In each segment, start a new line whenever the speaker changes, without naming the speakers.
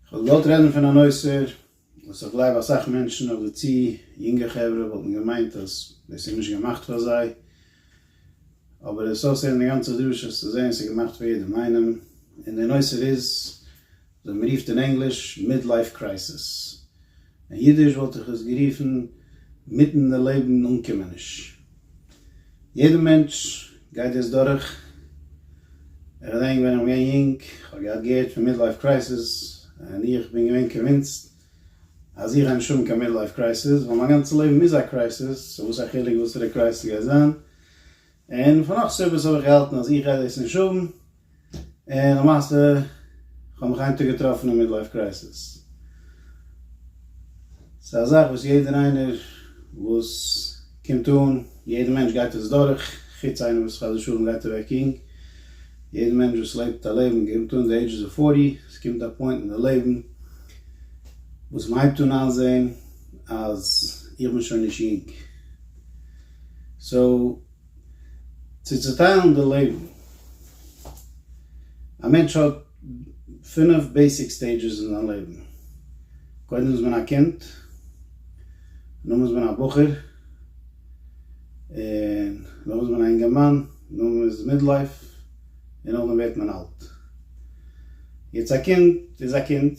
כ'וועל געוואלט רעדן פון א נושא וואס איך גלייב אסאך מענטשן אדער צו יונגע חברה וואלטן געמיינט אז דאס איז נישט געמאכט פאר זיי, אבער עס אויסהערן די גאנצע דרשה צו זעהן ס'איז געמאכט פאר יעדעם איינעם, און די נושא איז וואס מ'רופט אין ענגליש Midlife Crisis, אין אידיש וואלט איך עס גערופן מיטן די לעבן אנקומעניש. יעדע מענטש גייט דאס דורך. איך געדענק ווען איך בין געווען יונג, איך האב געהאט געהערט פון מידלייף קרייסיס, און איך בין געווען קאנווינסד אז איך גיי נישט האבן קיין מידלייף קרייסיס, ווייל מיין גאנצע לעבן איז א קרייסיס, סאו וואס א חילוק וואסערע קרייסיס גייט זיין. און פון נאך סיבות האב איך געהאלטן אז איך גיי דאס נישט האבן, און למעשה איך האב מיך איין טאג געטראפן אין מידלייף קרייסיס. ס'איז א זאך וואס יעדער איינער וואס קומט אן, יעדער מענטש גייט עס דורך, חוץ איינער וואס חס ושלום גייט אוועק יונג, יעדער מענטש וואס לעבט א לעבן קומט אן די עידזשעס אוו פארטי, עס קומט א פוינט אין די לעבן וואס מען הייבט אן איינזען אז איך בין שוין נישט יונג. סאו צו צוטיילן די לעבן, א מענטש האט פינף בעיסיק סטעידזשעס אין זיין לעבן, קודם איז מען א קינד, נאך איז מען א בחור, און נאך איז מען א אינגערמאן, נאך איז מידלייף, און נאכדעם ווערט מען אלט. יעצט א קינד איז א קינד,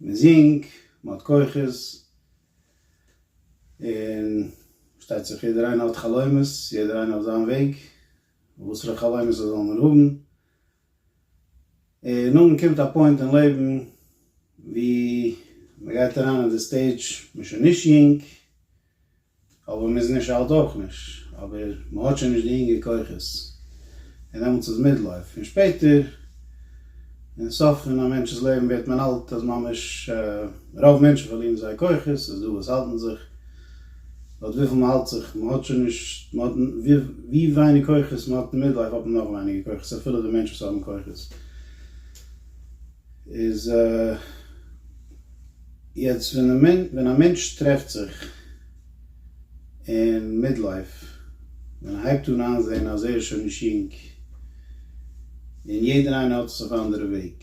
מען זינג, מען האט כוחות, און פארשטייט זיך יעדער איינער האט חלומות, יעדער איינער אויף זיין וועג, וואסערע חלומות ער זאל נאר האבן, און נאכדעם קומט א פוינט אין לעבן ווי מען גייט אריין אין די סטעידזש, מען איז שוין נישט יונג, אבער מ'איז נישט אלט אויך נישט, אבער מ'האט שוין נישט די אינגע כוחות, און דעמאלטס איז מידלייף, און שפעטער אין סוף פון א מענטש'ס לעבן ווערט מען אלט אז ממש רוב מענטשן פארלירן זייער כוחות, ס'איז דא וואס האלטן זיך, לויט וויפיל מ'האלט זיך, מ'האט שוין נישט, ווי ווייניג כוחות מ'האט אין מידלייף האט מען נאך ווייניגער כוחות אפילו די מענטשן וואס האבן כוחות. איז יעצט ווען א מענטש טרעפט זיך אין מיד לייף, ווען ער הייבט אן איינזעהן אז ער איז שוין נישט יונג, און יעדער איינער האט עס אויף אנדערע וועג,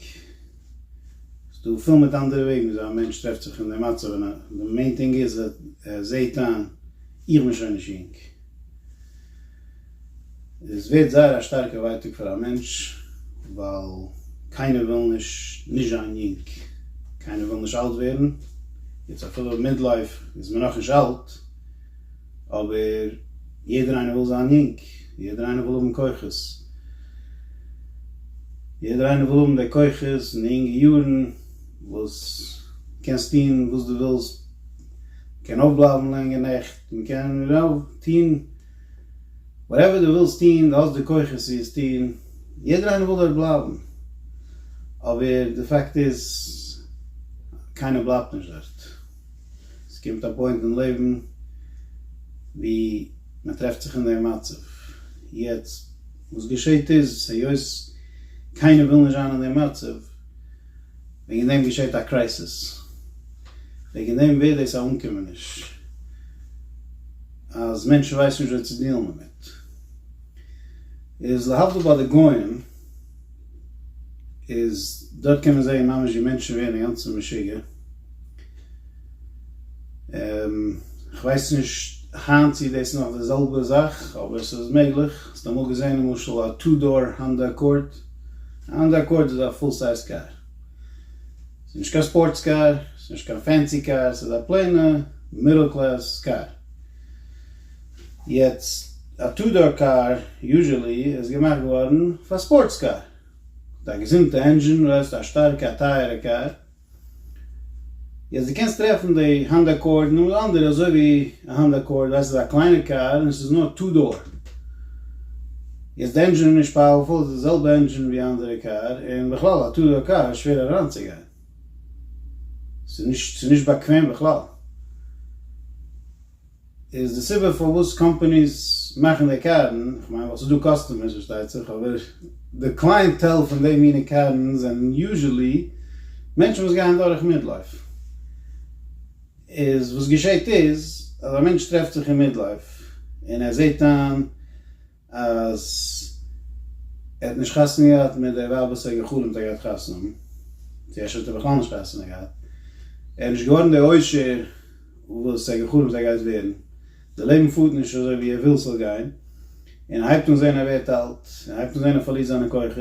ס'איז דא פול מיט אנדערע וועגן וויאזוי א מענטש טרעפט זיך אין די מצב, און די מעין טינג איז ער זעהט איין, איך בין שוין נישט יונג. עס ווערט זייער א שטארקע ווייטאג פאר א מענטש, ווייל קיינער וויל נישט נישט זיין יונג, קיינער וויל נישט אלט ווערן, יעצט אפילו מידלייף איז מען נאכנישט אלט, אבער יעדער איינער וויל זיין יונג, יעדער איינער וויל האבן כוחות, יעדער איינער וויל האבן די כוחות און די יונגע יארן וואס קענסט טון וואס דו ווילסט, מ'קען אויפבלייבן לענגע נעכט, מ'קען טון. וואטעווער דו ווילסט טון, דו האסט די כוחות צו עס טון, יעדער איינער וויל דארט בלייבן, אבער די פאקט איז קיינער בלייבט נישט דארט, עס קומט א פוינט אין לעבן ווי מען טרעפט זיך אין דעם מצב, יעצט וואס געשעט איז, היות קיינער וויל נישט זיין אין דעם מצב, וועגן דעם געשעט א קרייסיס, וועגן דעם ווערט דאס א אנקומעניש. אז מענטשן ווייסן נישט וויאזוי צו דיעלן דערמיט, איז להבדיל ביי די גוים, איז דארט קען מען זען ממש ווי מענטשן ווערן אינגאנצן משוגע, כ'ווייס נישט היינט צו דאס איז נאך די זעלבע זאך, אבער ס'איז מעגליך, האסט אמאל געזען למשל א טו דאר האנדא אקארד? א האנדא אקארד איז א פול סייז קאר. ס'איז נישט קיין ספארטס קאר, ס'איז נישט קיין פענסי קאר, ס'איז א פלעינע מידל קלעס קאר. יעצט, א טו דאר קאר יוזשעלי איז געמאכט געווארן פאר ספארטס קאר, מיט א געזונטע ענדזשין, רעדסט א שטארקע א טייערע קאר. יעצט די קענסט טרעפן די האנדא אקארד און נאך אנדערע אזוי ווי א האנדא אקארד, ווייסט ס'איז א קליינע קאר און ס'איז נאר טו דאר. איז די ענדזשין נישט פאוערפול? איז די זעלבע ענדזשין ווי אנדערע קאר, און בכלל א טו דאר קאר איז שווער אריינצוגיין, ס'איז נישט באקוועם בכלל, איז די סיבה פארוואס קאמפאניס מאכן די קארן, כ'מיין ווייל ס'איז דא קאסטומערס פארשטייט זיך, אבער די קלייענטעל פון די מינע קארן זענען יוזשעלי מענטשן וואס גייען דורך מידלייף, איז וואס געשעהט איז אז א מענטש טרעפט זיך אין מידלייף און ער זעהט איין, אז ער האט נישט חתונה געהאט מיט די ווייב וואס ער האט גע'חלומ'ט ער גייט חתונה האבן, צו אפשר האט ער בכלל נישט חתונה געהאט, ער איז נישט געווארן די עושר וואס ער האט גע'חלומ'ט ער גייט ווערן, די לעבן פארט נישט אזוי ווי ער וויל ס'זאל גיין, און ער הייבט אן זען ער ווערט אלט, ער הייבט אן זען ער פארלירט זיינע כוחות,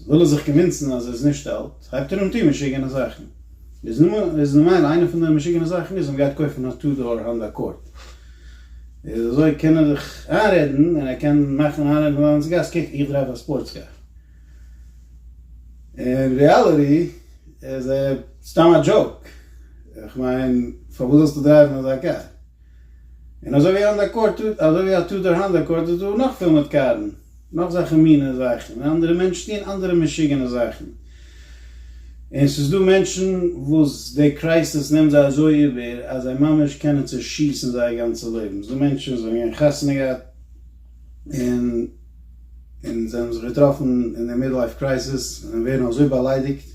וויל ער זיך קאנווינסן אז ער איז נישט אלט, הייבט ער אן טון משוגענע זאכן, איז ממילא איינע פון די משוגענע זאכן איז אז מ'גייט קויפן א טו דאר האנדא אקארד. איז אזוי קען ער דיך איינרעדן און ער קען מאכן איינרעדן פון אנדערע גאס קוק איך דרייוו א ספארטס קאר. אין ריעליטי איז ער סתם א דזשאוק. איך מיין פארוואס זאלסטו דרייוון אזא קאר? און אזוי ווי אנדער קאר אזוי ווי א טודאר האנדא קאר איז דא נאך פיל מיט קארן. נאך זאכן מינע זאכן און אנדערע מענטשן טוען אנדערע משוגענע זאכן און ס'איז דא מענטשן וואס די קרייסעס נעמט זיי אזוי איבער אז זיי ממש קענען צושיסן זייער גאנצע לעבן, ס'דא מענטשן וואס האבן געווען חתונה געהאט און און זיי האבן זיך געטראפן אין די מיד לייף קרייסעס און ווערן אזוי באליידיגט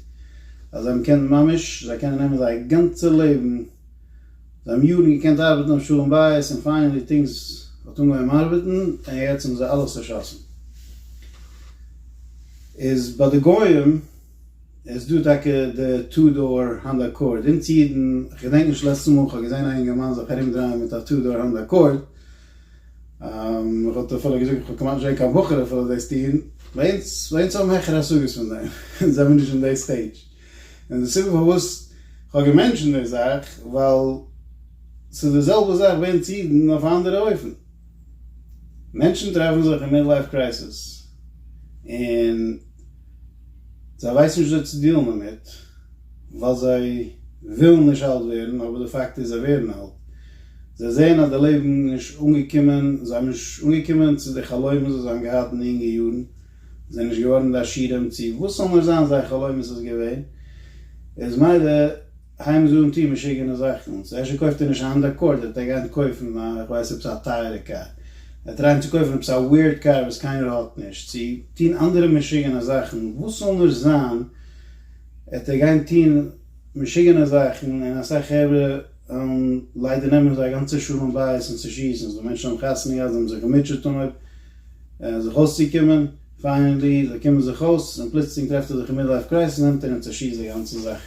אז זיי האבן קענט ממש זיי קענען נעמען זייער גאנצע לעבן. זיי האבן יארן געקענט ארבעטן אויף שלום בית און פיינעלי טינגס האט אנגעהויבן ארבעטן און יעצט האבן זיי אלעס צושאסן. איז ביי די גוים איז דא טאקע די טו דאר האנדא אקארד, אונז אידן, כ'געדענק נישט לעצטע מאל כ'האב געזען א אינגערמאן זיך ארומדרייען מיט א טו דאר האנדא אקארד, כ'וואלט אפילו געזאגט כ'האב כמעט נישט געזען קיין בחור אפילו דאס טון, ביי אונז, ביי אונז האבן העכערע השגות פון דעם, אונז זעמיר נישט אין די סטעידזש. און די סיבה פארוואס איך האב געמענטשענט די זאך, ווייל ס'איז די זעלבע זאך ווען צו אידן אויף א אנדערע אופן. מענטשן טרעפן זיך אין מידלייף קרייסיס, און זיי ווייסן נישט וויאזוי צו דיעלן דערמיט, ווייל זיי ווילן נישט אלט ווערן, אבער די פאקט איז זיי ווערן אלט. זיי זעען אז די לעבן איז נישט אנגעקומען, זיי האבן נישט אנגעקומען צו די חלומות וואס זיי האבן געהאט אין די אינגע יארן, זענען נישט געווארן די עשירים צו וואס אנדערש זיין זייער חלומות איז געווען איז מילא הייבן זיי אן טון משוגענע זאכן צו ערשט קויפט ער נישט א האנדא עקארד ער וועט גיין קויפן א איך ווייס עפעס א טייערע קאר ער וועט טרייען צו קויפן עפעס א וויערד קאר וואס קיינער האט נישט צו טון אנדערע משוגענע זאכן וואס אנדערש זיין עט ער גיין טון משוגענע זאכן און אסאך חברה ליידער נעמען זיי א גאנצע שלום בית און צושיסן עס דא מענטשן האבן חתונה געהאט זיי האבן זיך געמוטשעט און אויב זיך אויסצוקומען, פיינעלי זיי קומען זיך אויס, און פלוצלינג טרעפט ער זיך אין מידלייף קרייזיס נעמט ער און צעשיסט די גאנצע זאך,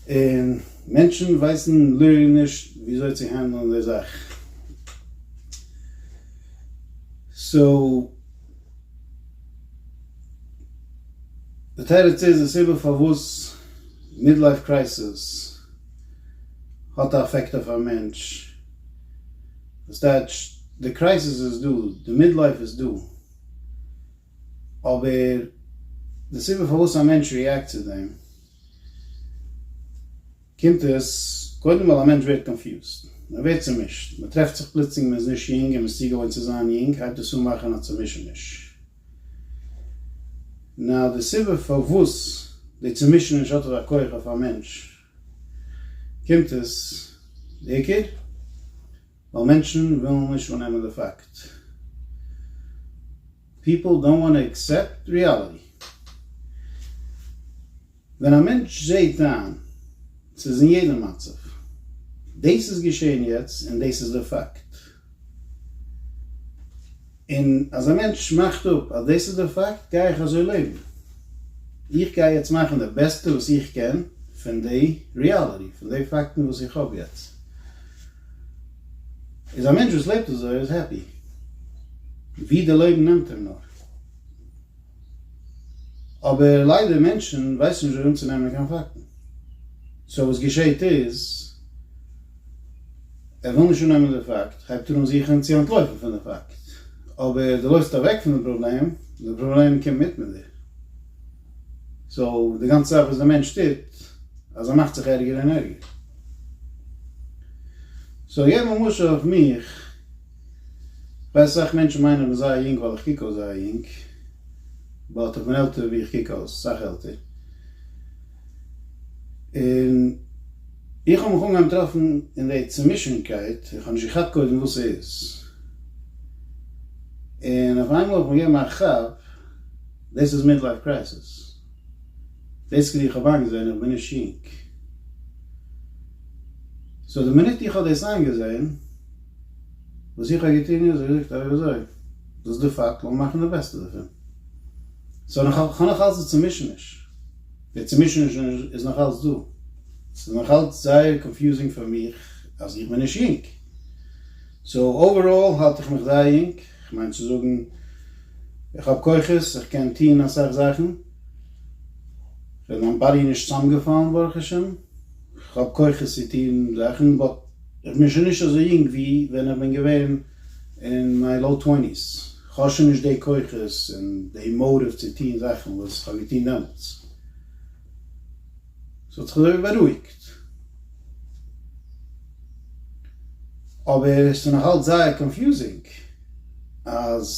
און מענטשן ווייסן ל ע נישט וויאזוי צו הענדלען די זאך, סאו די תירוץ איז די סיבה פארוואס מידלייף קרייזיס האט א אפעקט אויף א מענטש, דאס טייטש די קרייזיס איז דא, די מידלייף איז דא, אבער די סיבה פארוואס א מענטש ריעקט צו דעם, קומט עס קודם ווייל א מענטש ווערט קאנפיוזד, ער ווערט צומישט, מען טרעפט זיך פלוצלינג מען איז נישט יונג און מען איז צוגעוואוינט צו זיין יונג הייבט דאס אן מאכן א צומישעניש, נאר די סיבה פארוואס די צומישעניש האט אזא כח אויף א מענטש קומט עס בעיקר ווייל מענטשן ווילן נישט אננעמען די פאקט. פיפל דאונט וואנט טו עקסעפט ריעליטי. ווען א מענטש זעהט איין ס'איז אין יעדע מצב, דאס איז געשעהן יעצט און דאס איז די פאקט. און אז א מענטש מאכט אפ אז דאס איז דער פאקט, גיי איך אזוי לעבן. איך גיי יעצט מאכן די בעסטע וואס איך קען פון די ריאליטי, פון די פאקטן וואס איך האב יעצט. איז א מענטש וואס לעבט אזוי איז העפי, ווי די לעבן נעמט אים נאר. אבער ליידער מענטשן ווייסן נישט ווי אנצונעמען קיין פאקטן, סאו וואס געשעהט איז ער וויל נישט אננעמען די פאקט הייבט ער אן זוכן צו אנטלויפן פון די פאקט, אבער די לויפסט אוועק פון די פראבלעם, די פראבלעם קומט מיט מיט דיר, סאו די גאנצע זאך וואס די מענטש טוט אז ער מאכט זיך ערגער און ערגער. סאו געב א משל אויף מיך. ווייסט אסאך מענטשן מיינען איך בין זייער יונג ווייל איך קוק אויס זייער יונג, באט איך בין עלטער ווי איך קוק אויס, אסאך עלטער, און איך האב מיך אנגעהויבן טרעפן אין די צומישענקייט, איך האב נישט געכאפט קודם וואס ס'איז, און אויף איינמאל האב איך מיר געגעבן א כאפ, דאס איז מידלייף קרייסיס, בעיסיקלי איך האב איינגעזען איך בין נישט יונג, סאו די מינוט איך האב דאס איינגעזען, וואס איך האב געטון איז געזאגט אזוי אזוי, דאס איז די פאקט, לאמיר מאכן די בעסטע דערפון. סאו איך האב נאך אלץ די צומישעניש, די צומישעניש איז נאך אלץ דא, ס'איז נאך אלץ זייער קאנפיוזינג פאר מיך אז איך בין נישט יונג. סאו אוועראל האלט איך מיך זייער יונג, כ'מיין צו זאגן איך האב כוחות, איך קען טון אסאך זאכן, כ'בין מיין באדי נישט צוזאמגעפאלן ברוך השם, כ'האב כוחות צו טון זאכן באט. איך בין שוין נישט אזוי יונג ווי ווען איך בין געווען אין מיין לאו טוועניס, כ'האב שוין נישט די כוחות און די מאטיוו צו טון זאכן וואס כ'האב געטון דעמאלטס. ס'האט זיך אזוי ווי בארואיגט. אבער ס'איז נאך אלץ זייער קאנפיוזינג אז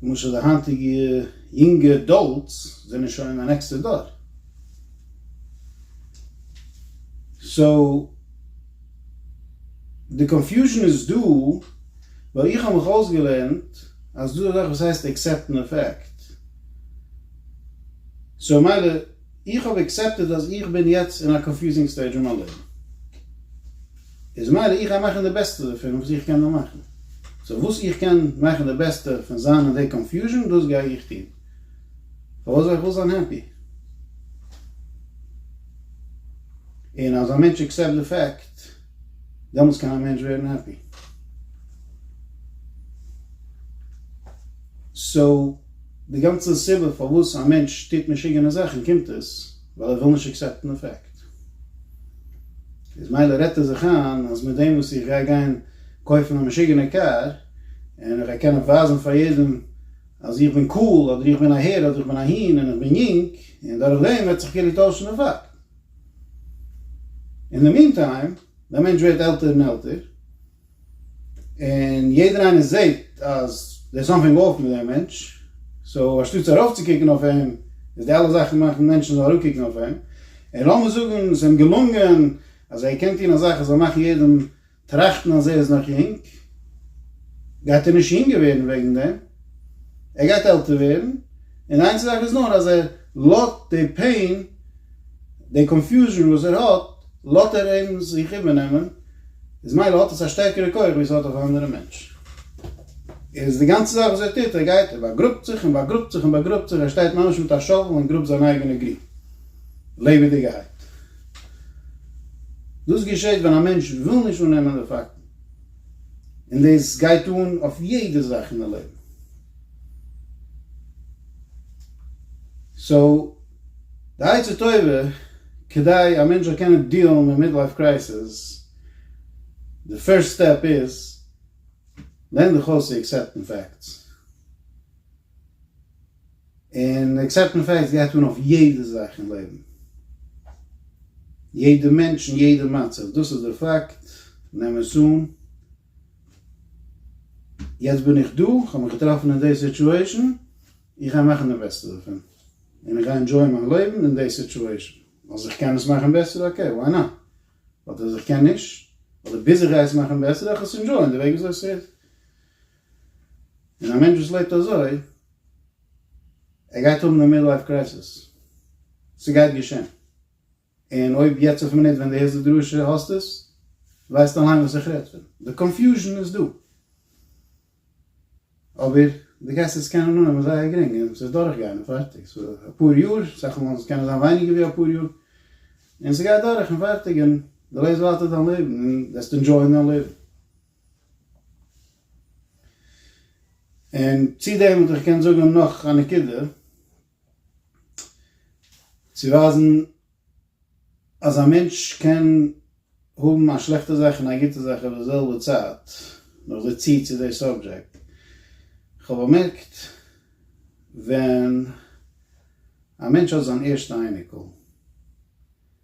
למשל די היינטיגע יונגע עדאלטס זענען שוין א נעקסטע דור. סאו די קאנפיוזשן איז דא ווייל איך האב מיך אויסגעלערנט אז דא איז אזאך וואס הייסט עקסעפטן א פעקט סאו מילא איך האב עקסעפטעד אז איך בין יעצט אין א קאנפיוזינג סטעידזש אין מיין לעבן איז מילא איך גיי מאכן די בעסטע דערפון וואס איך קען דען מאכן סאו וואס איך קען מאכן די בעסטע פון זיין אין די קאנפיוזשן דאס גיי איך טון. פארוואס זאל איך וואס זיין העפי? און אז א מענטש עקסעפט די פעקט, דעמאלטס קען א מענטש ווערן העפי. סאו, די גאנצע סיבה פארוואס א מענטש טוט משוגענע זאכן קומט עס ווייל ער וויל נישט עקסעפטן די פעקט. איז מילא רעדט ער זיך איין אז מיט דעם וואס איך גיי גיין קויפן א משוגענע קאר, און איך גיי קענען ווייזן פאר יעדעם, אז איך בין קאל אדער איך בין א הער אדער איך בין א הין און איך בין יונג און דורך דעם וועט זיך כאילו טוישן די פאקט. אין די מין טיים דער מענטש ווערט עלטער און עלטער און יעדער איינער זעט אז דער'ס סאמטינג אף מיט דעם מענטש סאו אנשטאט צו ארויפצוקוקן אויף אים איז די אלע זאכן מאכן מענטשן זאל אראפקוקן אויף אים און לאמיר זאגן ס'איז אים געלונגען אז ער קען טון א זאך אז ער זאל מאכן יעדעם טראכטן אז ער איז נאך יונג, גייט ער נישט יונגער ווערן וועגן דעם, ער גייט עלטער ווערן, און איין זאך איז נאר אז ער לאט די פעין, די קאנפיוזשן וואס ער האט, לאט ער אים זיך איבערנעמען, איז מילא האט עס א שטערקערע כח ווי עס האט אויף א אנדערע מענטש. איז די גאנצע זאך וואס ער טוט, ער גייט, ער באגראבט זיך און באגראבט זיך און באגראבט זיך, ער שטייט ממש מיט א שאוול און גראבט זיין אייגענע גרוב לעבעדיגערהייט. דאס געשעט ווען א מענטש וויל נישט אננעמען די פאקטן, און דאס גייט אן אויף יעדע זאך אין די לעבן. סאו, די עצה טובה כדי א מענטש זאל קענען דיעלן מיט מידלייף קרייסיס, די פירסט סטעפ איז, לערן דיך אויס צו עקסעפטן פאקטס. און עקסעפטען פעקטס גייט אן אויף יעדע זאך אין לעבן, יעדע מענטש און יעדע מצב, דאס איז די פאקט, נעם עס אן, יעצט בין איך דא, כ'האב מיך געטראפן אין די סיטואשען, איך גיי מאכן די בעסטע דערפון, און איך גיי ענדשויען מיין לעבן אין די סיטואשען, אז איך קען עס מאכן בעסער, אקעי, וואי נאט, באט אז איך קען נישט, אדער ביז איך גיי עס מאכן בעסער, וועל איך עס ענדשויען די וועג וויאזוי ס'איז. און א מענטש וואס לעבט אזוי, ער גייט האבן די מידלייף קרייסיס, ס'גייט געשען, און אויב יעצט אויפן מינוט ווען דו הערסט די דרשה האסט עס, ווייסטו אליין וואס איך רעד פון, די קאנפיוזשן איז דא, אבער דו גייסט עס קענען אננעמען זייער גרינג, און ס'וועט דורכגיין און פארטיג, ס'וועט אפאר יאר, אסאך מאל וועט עס קענען זיין ווייניגער ווי אפאר יאר, און ס'גייט דורך און פארטיג, און דו לעבסט ווייטער דיין לעבן, און וועסט ענדזשויען דיין לעבן. און צו דעם וואלט איך געקענט זאגן נאך א נקודה, צו ווייזן אז א מענטש קען האבן א שלעכטע זאך און א גוטע זאך אויף די זעלבע צייט, נאר זע צו צו די סאבדזשעקט. כ'האב באמערקט ווען א מענטש האט זיין ערשטע אייניקל,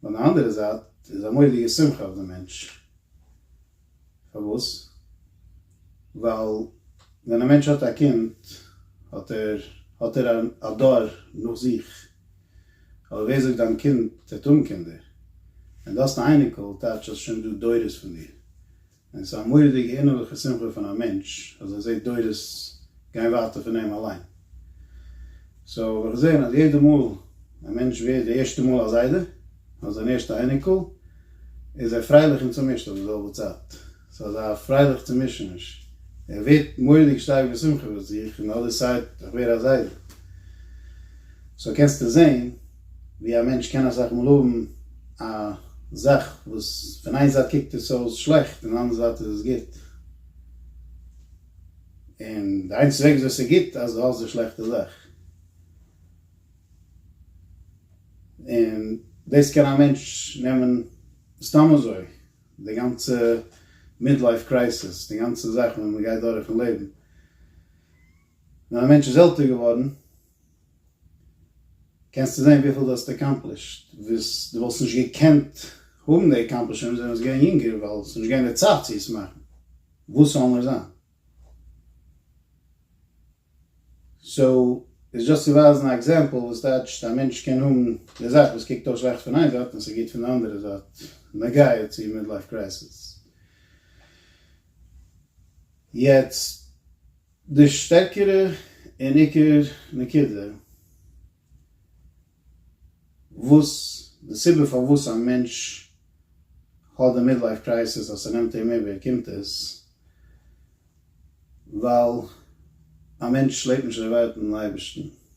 פון די אנדערע זייט איז א מורא'דיגע שמחה אויף די מענטש, פארוואס? ווייל ווען א מענטש האט א קינד האט ער האט ער א דור נאך זיך, אבער ווער זאגט דיין קינד וועט האבן קינדער, און דו האסט א אייניקל, טייטש אז שוין דא דורות פון דיר, און ס'איז א מורא'דיגע אינערליכע שמחה פון א מענטש אז ער זעט דורות גיין ווייטער פון אים אליין. סאו האב איך געזען אז יעדע מאל א מענטש ווערט די ערשטע מאל א זיידע, אדער זיין ערשטע אייניקל, איז ער פרייליך און צומישט אויף די זעלבע צייט. ס'איז אזא פרייליך צומישעניש. ער ווערט מורא'דיג שטארק בשמחה וואס איך אין די אדער סייד, איך ווער א זיידע. סאו קענסטו זען. ווי א מענטש קען אסאך מאל האבן א זאך וואס פון איין זייט קוקט עס אויס שלעכט און אנדער זייט איז עס גוט, און די איינציגסטע וועג וויאזוי עס איז גוט אז דו האלסט די שלעכטע זאך, און דאס קען א מענטש נעמען סתם אזוי, די גאנצע מידלייף קרייסיס, די גאנצע זאך וואס מען גייט דורך אין לעבן, ווען א מענטש איז עלטער געווארן, קענסטו זען וויפיל דו האסט אקאמפלישט וואס דו וואלסט נישט געקענט האבן די אקאמפלישמענטס ווען דו ביסט געווען יונגער ווייל עס איז נישט געווען די צייט צו עס מאכן וואס ס'זאל נאר זיין. סאו איז דשאסט צו ווייזן א עקזעמפל וואס טייטשט א מענטש קען האבן די זאך וואס קוקט אויס שלעכט פון איין זייט און ס'איז גוט פון די אנדערע זייט נוגע צו מידלייף קרייסיס. יעצט. די שטערקערע און עיקר נקודה וואס די סיבה פארוואס א מענטש האט די מידלייף קרייסיס אז ס'נעמט אים איבער קומט עס ווייל א מענטש לעבט נישט דערווארט אין אייבערשטן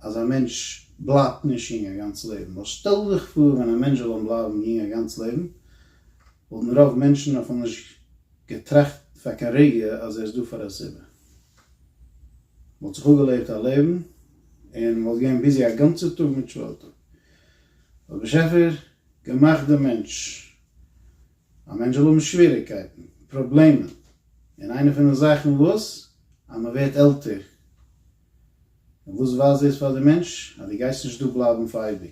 אז א מענטש בלייבט נישט יונג א גאנץ לעבן, ווייל שטעל דיך פאר ווען א מענטש זאל וועלן בלייבן יונג א גאנץ לעבן, וואלטן רוב מענטשן אפילו נישט געטראכט פאר קיין רגע אז ער איז דא פאר א סיבה. מ'וואלט זיך אפגעלעבט א לעבן, און מ'וואלט געווען ביזי א גאנצער טאג מיט שוועל טאג. האט באשעפער געמאכט דעם מענטש, א מענטש זאל האבן שוועריגקייטן, פראבלעמען, און איינע פון די זאכן וואס? אז מ'ווערט עלטער. און וואס ווייזט דאס פאר די מענטש? אז דו גייסט נישט דא בלייבן פאר אייביג.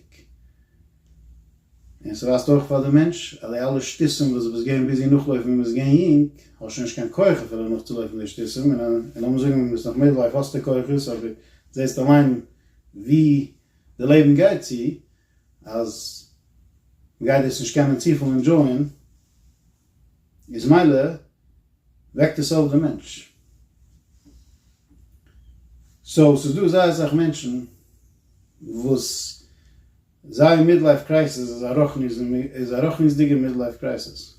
און ס'ווייזט אויך פאר די מענטש אז די אלע שטותים וואס דו ביסט געווען ביזי נאכלויפן ווען מ'איז געווען יונג, האסט שוין נישט קיין כח אפילו נאכצולויפן די שטותים, און לאמיר זאגן ווען מ'איז נאך מיטל לייף האסטו כוחות, אבער זעסט אליין ווי די לעבן גייט צו, אז מ'גייט דאס נישט קענען צופיל ענדזשויען. איז מילא וועקט עס אויף די מענטש. סאו ס'איז דא זייער אסאך מענטשן וואס זייער מידלייף קרייסיס איז א רוחניות איז א רוחניות'דיגע מידלייף קרייסיס.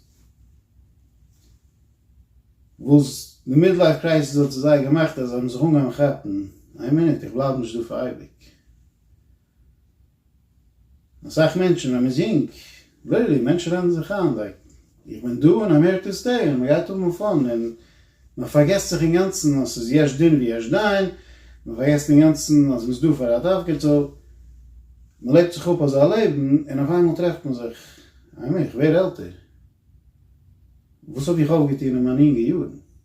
וואס די מידלייף קרייסיס האט צו זיי געמאכט אז זיי האבן זיך אנגעהויבן כאפן, איין מינוט איך בלייב נישט דא פאר אייביג. אסאך מענטשן ווען מען איז יונג, לילי, מענטשן רעדן זיך איין לייק איך בין דא און אמעריקא סטעי און מען גייט האבן א פאן און מען פארגעסט זיך אינגאנצן אז ס'איז יש דין ויש דיין, מען פארגעסט אינגאנצן אז מען איז דא פאר א דארף געטאל, מען לעבט זיך אפ אזא לעבן און אויף איינמאל טרעפט מען זיך, איי מיר, איך ווער עלטער, וואס האב איך אויפגעטון אין מיינע יונגע יארן?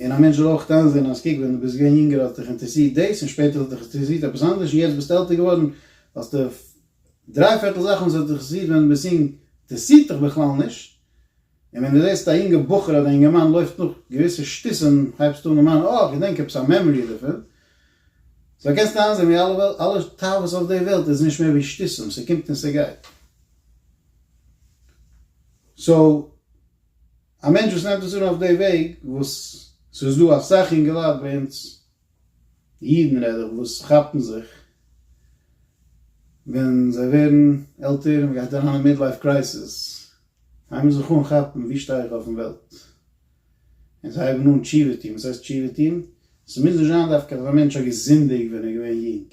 און א מענטש זאל אויך איינזעהן אז קוק ווען דו ביסט געווען יונגער האט דיך אינטערעסירט דאס און שפעטער האט דיך אינטערעסירט עפעס אנדערש און יעצט ביסטו עלטער געווארן האסטו דריי פערטל זאכן וואס האט דיך אינטערעסירט ווען דו ביסט יונג אינטערעסירט דיך בכלל נישט און ווען דו זעהסט א יונגע בחור אדער א יונגערמאן לויפט נאך געוויסע שטותים הייבסטו אן דערמאנען אה כ'געדענק עפעס א מעמארי דערפון סאו קענסטו איינזעהן ווי אלע אלע תאוות אויף די וועלט איז נישט מער ווי שטותים ס'קומט און ס'גייט סאו. א מענטש וואס נעמט עס אן אויף די וועג וואס ס'איז דא אסאך אינגעלייט ביי אונז אידן רעד איך וואס כאפן זיך ווען זיי ווערן עלטער און מ'גייט אריין אין מידלייף קרייסיס זיי מוזן זיך אנכאפן ווי שטיי איך אויפן וועלט און זיי הייבן אן תשובה טון, וואס הייסט תשובה טון? ס'מוז נישט זיין דווקא אז א מענטש האט געזינדיגט ווען ער איז געווען יונג.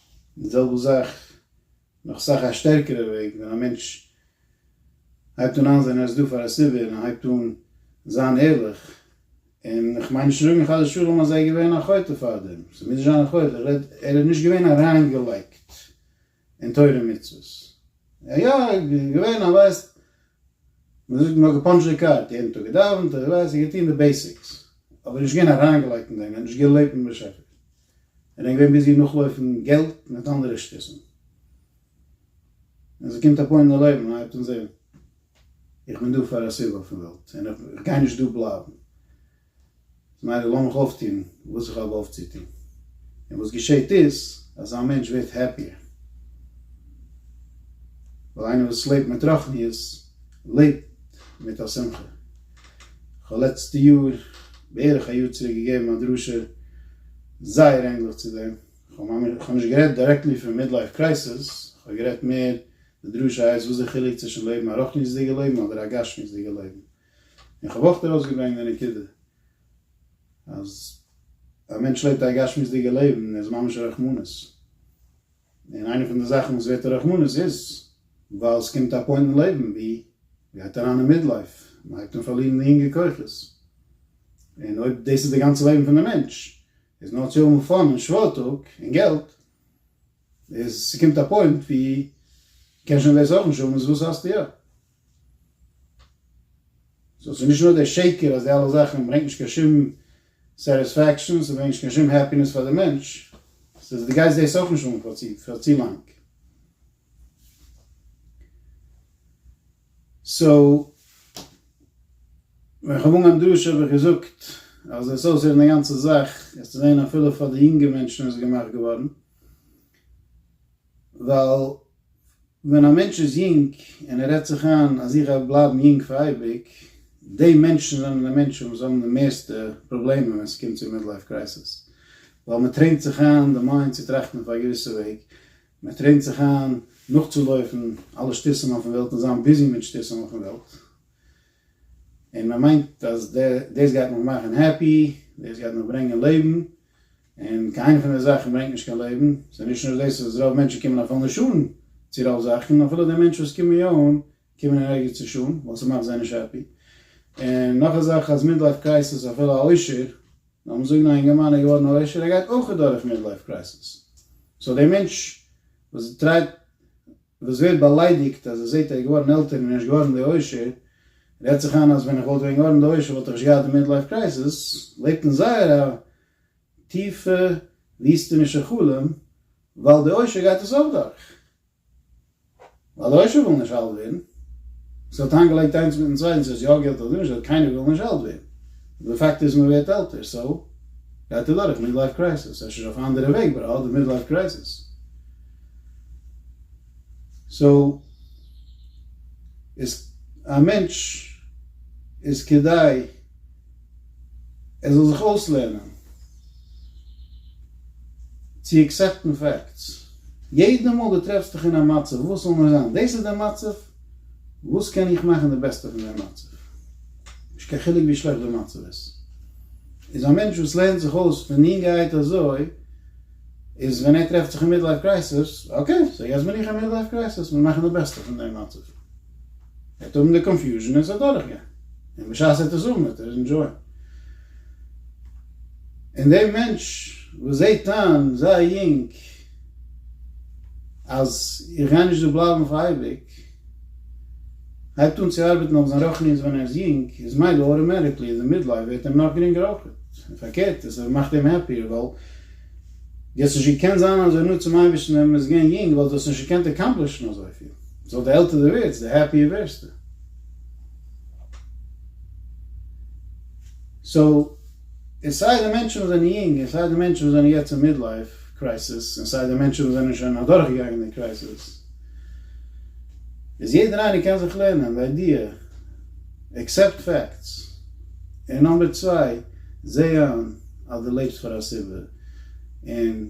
די זעלבע זאך, נאך סאך א שטערקערע וועג, ווען א מענטש הייבט אן איינזען ער איז דא פאר א סיבה און ער הייבט אן זיין ערליך, און איך מיין נישט צו זאגן חס ושלום אז ער איז געווען א חוטא פארדעם, ס'מוז נישט זיין א חוטא, איך רעד ער איז נישט געווען אריינגעלייגט אין תורה ומצוות, ער איז יא געווען ער ווייסט, מען זאגט נאר געפאנטשט די קארט, יעדן טאג געדאווענט, ער ווייסט, ער האט געטון די בעיסיקס, אבער נישט געווען אריינגעלייגט אין דעם, ער האט נישט געלעבט מיט באשעפער, און איז געווען ביזי נאכלויפן געלט מיט אנדערע שטותים. ווען ס'קומט א פוינט אין לעבן הייבט אן זען איך בין דא פאר א סיבה אויפן וועלט און איך גיי נישט דא בלייבן. מילא לאמיך אויפטון וואס איך האב אויפצוטון. און וואס געשעהט איז אז א מענטש ווערט העפיער. ווייל איינער וואס לעבט מיט רחניות לעבט מיט א שמחה. כ'האב לעצטע יאר, בערך א יאר צוריק געגעבן א דרשה זייער ענדליך צו דעם, כ'האב נישט גערעדט דירעקטלי פון מידלייף קרייסעס, כ'האב גערעדט מער, די דרשה הייסט וואס די חילוק צווישן לעבן א רוחניות'דיגע לעבן אדער א גשמיות'דיגע לעבן, און כ'האב אויך ארויסגעברענגט די נקודה אז א מענטש לעבט א גשמיות'דיגע לעבן איז ממש רחמנות. און איינע פון די זאכן וואס ווערט א רחמנות איז ווייל ס'קומט א פוינט אין לעבן ווי מ'גייט אריין אין מידלייף, מ'הייבט אן פארלירן די יונגע כוחות, און אויב דאס איז די גאנצע לעבן פון די מענטש איז נאר צו האבן פאן און שוואוירטאג און געלט, איז ס'קומט א פוינט ווי מ'קען שוין דאס אויך נישט האבן, איז וואס האסטו יא? סאו ס'איז נישט נאר דער שקר אז די אלע זאכן ברענגט נישט קיין שום סעטיספעקשאן, ס'ברענגט נישט קיין שום העפינעס פאר די מענטש, ס'איז דו גייסט דאס אויך נישט אן פאר צו פאר צו לאנג. סאו ווען איך האב אנגעהויבן דרשו האב איך געזאגט אז עס וועט אויסהערן די גאנצע זאך, עס צו זען אפילו פאר די יונגע מענטשן איז עס געמאכט געווארן, ווייל ווען א מענטש איז יונג און ער רעדט זיך איין אז איך וועל בלייבן יונג פאר אייביג, די מענטשן זענען די מענטשן וואס האבן די מערסטע פראבלעמען ווען ס'קומט צו מידלייף קרייסיס, ווייל מ'טרעינט זיך איין די מיינד צו טראכטן אויף א געוויסע וועג, מ'טרעינט זיך איין נאכצולויפן אלע שטותים אויפן וועלט און זיין ביזי מיט שטותים אויפן וועלט, און מ'מיינט אז דאס גייט מיך מאכן העפי, דאס גייט מיך ברענגען לעבן, און קיין איינע פון די זאכן ברענגט נישט קיין לעבן, ס'איז נישט נאר דאס אז רוב מענטשן קומען אויף אלנע שולן צו רוב זאכן, אפילו די מענטשן וואס קומען יא אן, קומען אין ערגער צו שולן, ווייל ס'מאכט זיי נישט העפי. און נאך א זאך אז מידלייף קרייסעס אפילו א עושר, לאמיר זאגן א אינגערמאן איז געווארן א עושר, ער גייט אויך אדורך מידלייף קרייסעס. סאו דער מענטש וואס טרייט. וואס ווערט באליידיגט אז ער זעהט ער איז געווארן עלטער און ער איז נישט געווארן די עושר, רעדט זיך איין אז ווען איך וואלט ווען געווארן די עושר וואלט איך נישט געהאט די מידלייף קרייזיס, לעבט אין זייער א טיפע וויסטענישע חלום, ווייל די עושר גייט עס אויך דורך, ווייל די עושר וויל נישט אלט ווערן, עס האט איינגעלייגט איינס מיטן צווייטן, ס'הייסט יא געלט אדער נישט געלט, קיינער וויל נישט אלט ווערן, די פאקט איז מען ווערט עלטער, סאו גייט ער דורך מידלייף קרייזיס, אפשר אויף א אנדערע וועג, באט ער האט די מידלייף קרייזיס. סאו איז א מענטש איז כדאי ער זאל זיך אויסלערנען צו עקסעפטן פעקטס, יעדע מאל דו טרעפסט דיך אין א מצב וואס זאל נאר זיין דאס איז די מצב, וואס קען איך מאכן די בעסטע פון דעם מצב, נישט קיין חילוק ווי שלעכט די מצב איז, איז א מענטש וואס לערנט זיך אויס פון יונגערהייט אזוי, איז ווען ער טרעפט זיך אין מידלייף קרייסעס, אקעי, סאו יעצט בין איך אין מידלייף קרייסעס, מיר מאכן די בעסטע פון דעם מצב. ער וועט האבן די קאנפיוזשן און עס וועט דורכגיין. און בשעת ער וועט עס האבן וועט ער ענדזשויען. און דער מענטש וואס זעט איין זייער יונג אז איך גיי נישט דא בלייבן אויף אייביג, הייבט אן צו ארבעטן אויף זיין רוחניות ווען ער איז יונג, איז מילא אוטאמעטיקלי אין די מידלייף ווערט אים נאך גרינגער אויך. און פארקערט, עס מאכט אים העפיער, ווייל ווי האסט נישט געקענט זיין אזוי נאנט צום אייבערשטן ווען מען איז געווען יונג, ווייל דו האסט נישט געקענט אקאמפלישן אזויפיל. סאו די עלטער דו ווערסט, די העפיער ווערסטו. סאו, און סיי די מענטשן וואס זענען יונג, און סיי די מענטשן וואס זענען יעצט אין מידלייף קרייסיס, און סיי די מענטשן וואס זענען שוין אדורכגעגאנגען די קרייסיס, איז יעדער איינער קען זיך לערנען די איידיע, עקסעפט פעקטס, און נאמבער צוויי, זע איין אז דו לעבסט פאר א סיבה, און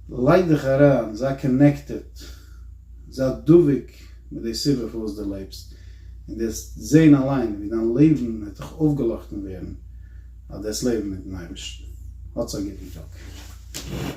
לייג דיך אריין, זיי קאנעקטעד, זיי דבוק מיט די סיבה פארוואס דו לעבסט, און דו וועסט זען אליין ווי דיין לעבן וועט דיך אויפגעלאכטן ווערן אז דו האסט לעבן מיטן אייבערשטן. האטס א גוטן טאג.